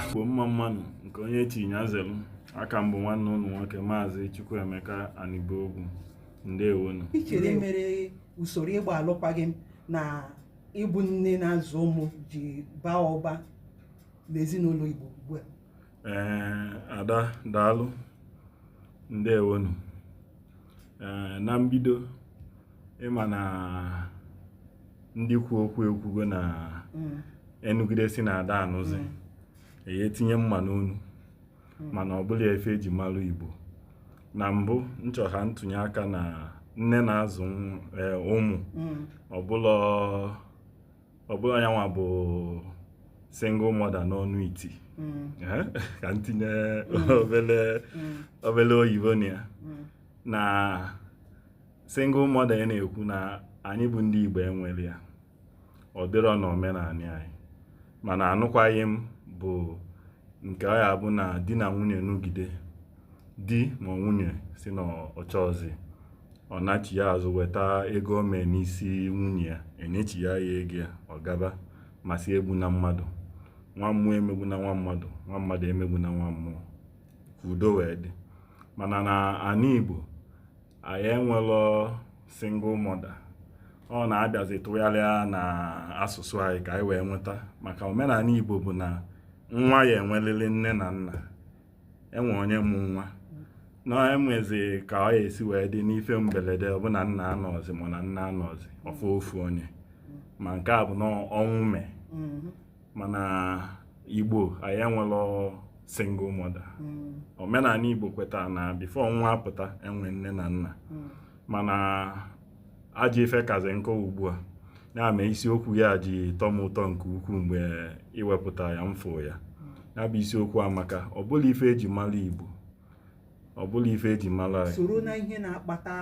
Igbo mma mma nụ nke onye chi ya zelu a ka m bụ nwanne ụnụ nwoke maazị Chukwuemeka Anibogwu ndewonu i chere mere usoro ịgba alụkwaghịm na ịbụ nne na-azụ ụmụ ji baa ụba n'ezinụlọ Igbo ugbu a ee ada daalụ ndewonu ee na mbido ị ma na ndị kwu okwu ekwugo na mm. a nụgide sị na a da anụzi mm. e ye etinye mma n'onu mm. mana ọ bụlọ ife e ji malụ igbo na mbụ m chọ ka m tụnye aka na nne na-azụ e, ụmụ ọ bụ na yanwa bụ single mother n'ọnụ iti ka m tinye obele oyibo na ya na single mother na-ekwu na anyị bụ ndị Igbo enwerọ ya ọ dịrọ na omenani anyị mana anụkwaghị m bụ nke ọ ya-abụ na di na nwunye nụgide di ma nwunye sị na ọ chọzi ọ nachi ya azụ weta ego o mee n'isi nwunye ya e nyechi ya ego ya ọ gaba ma sị egbuna mmadụ nwa mmụọ emegbuna nwa mmadụ nwa mmadụ emegbuna nwa mmụọ ka udo wee dị mana na ana Igbo anyị enwelọ single mother ọ na-abịazi tụgharịa na asụsụ anyị ka anyị wee nweta maka omenani Igbo bụ na nwa ya-enwelili nne na nna enwe onye mụ nwa na enwezi ka ọ ya-esi wee dị n'ife mbelede ọ bụ na nne anọzi ma na nna anọzi ọ fọ ofu onye ma nke a bụ na ọnwụ mee mm-hmm. mana igbo anyị enwelọ single mother hmm. omenani igbo kweta na before nwa apụta enwe nne na nna hmm. mana ajọ ife kazi nke ugbu a ya mee isiokwu ya ji tọ m ụtọ nke ukwuu mgbe i wepụta ya m fụ ya ya bụ isiokwu amaka ọ bụlọ ife e ji mara igbo ọ bụlọ ife e ji mara soro na ihe na-akpata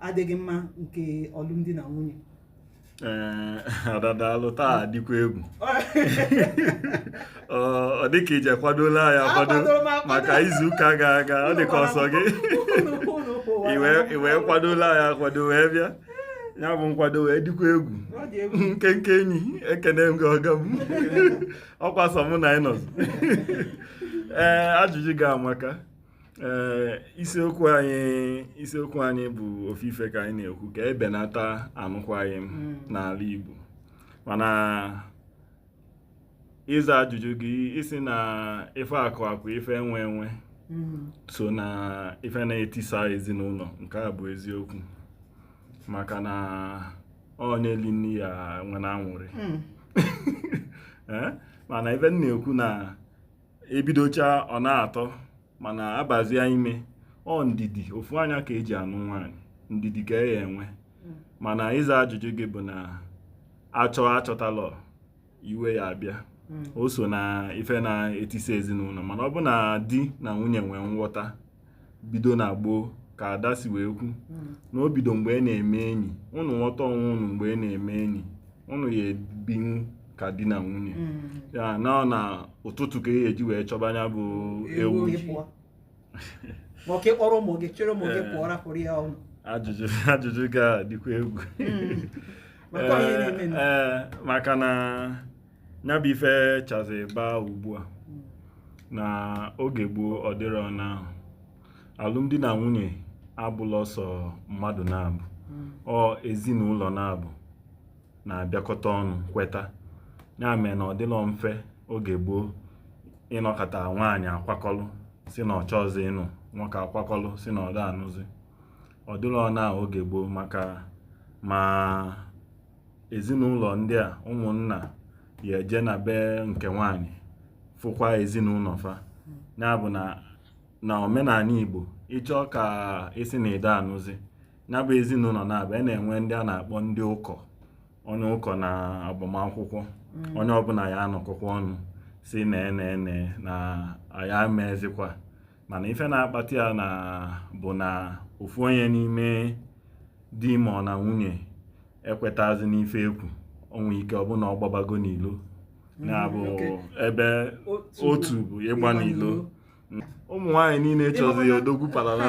adịghị mma nke alụmdi na nwunye ee eh, ada daalụ taa dịkwa egwu ọ dịka i je kwadolu ya akwado maka izuụka ga aga ọ dịka ọ so gị iwe i kwadolu ya akwado wee bịa ya bụ nkwado wee dịkwa egwu nkenke enyi ekene m gị ọga m ọ kwa sọ mụ na ị nọzi ee eh, ajụjụ gị amaka ee isiokwu anyị isiokwu anyị bụ ofu ife ka anyị na-ekwu ka ebenata anụkwaghị m hmm. n'ala Igbo mana ịza ajụjụ gị ị si na ife akụ akụ ife enwe enwe hmm. so na ife na-etisa ezinụlọ nke a bụ eziokwu maka na onye lie nni ya nwee anwụrị hmm. eh? mana ife m na-ekwu na ebidocha ọ na-atọ mana abazia ime ọ ndidi ofu anya ka eji anụ nwaanyị ndidi ka a ya-enwe mana ịza ajụjụ gị bụ na a chọọ achọtalọ iwe ya abịa o so na ife na-etisa ezinụlọ mana ọ bụ na di na nwunye nwee nghọta bido na gboo ka Ada si wee kwu na o bido mgbe ị na-eme enyi ụnụ nwọta onwe ụnụ mgbe ị na-eme enyi ụnụ ya ebinwu ka di na nwunye ya na ọ na ụtụtụ ka e ji wee chọba nya bụ ewu gị pụọ ma ọ ka ị kpọrọ ụmụ gị chịrị ụmụ gị pụọ rapụrụ ya ụnọ ajụjụ ajụjụ ga-adịkwa egwu maka onye na-eme nụ. ee maka na ya bụ ife chazi baa ugbu a na oge gboo ọ dịrọ na alụmdi na nwunye abụlọ sọ mmadụ naabọ ọ ezinụlọ naabọ na-abịakọta ọnụ kweta ya mee na ọ dịlọ mfe oge gboo ị nọkata nwaanyị akwakọlụ si na ọ chọzi ịnụ nwoke akwakọlụ si na ọ da anụzi ọ dịlọ na oge gboo maka ma ezinụlọ ndị a ụmụnna ya eje na be nke nwaanyị fụkwa ezinụlọ fa ya bụ na na omenala Igbo ị chọọ ka ị si na ị da anụzi ya bụ ezinụlọ naabọ a na-enwe ndị a na-akpọ ndị ụkọ onye ụkọ na agbamakwụkwọ onye ọbụla ya anọkọkwa ọnụ si na ene ene na a ya-emezikwa mana ife na-akpata ya na bụ na ofu onye n'ime di ma ọ na nwunye ekwetazi n'ife e kwu o nwe ike ọ bụ na ọ gbabago n'ilo mm, nya bụ ebe otu bụ ịgba n'ilo ụmụ nwaanyị niile chọzi odogwu parala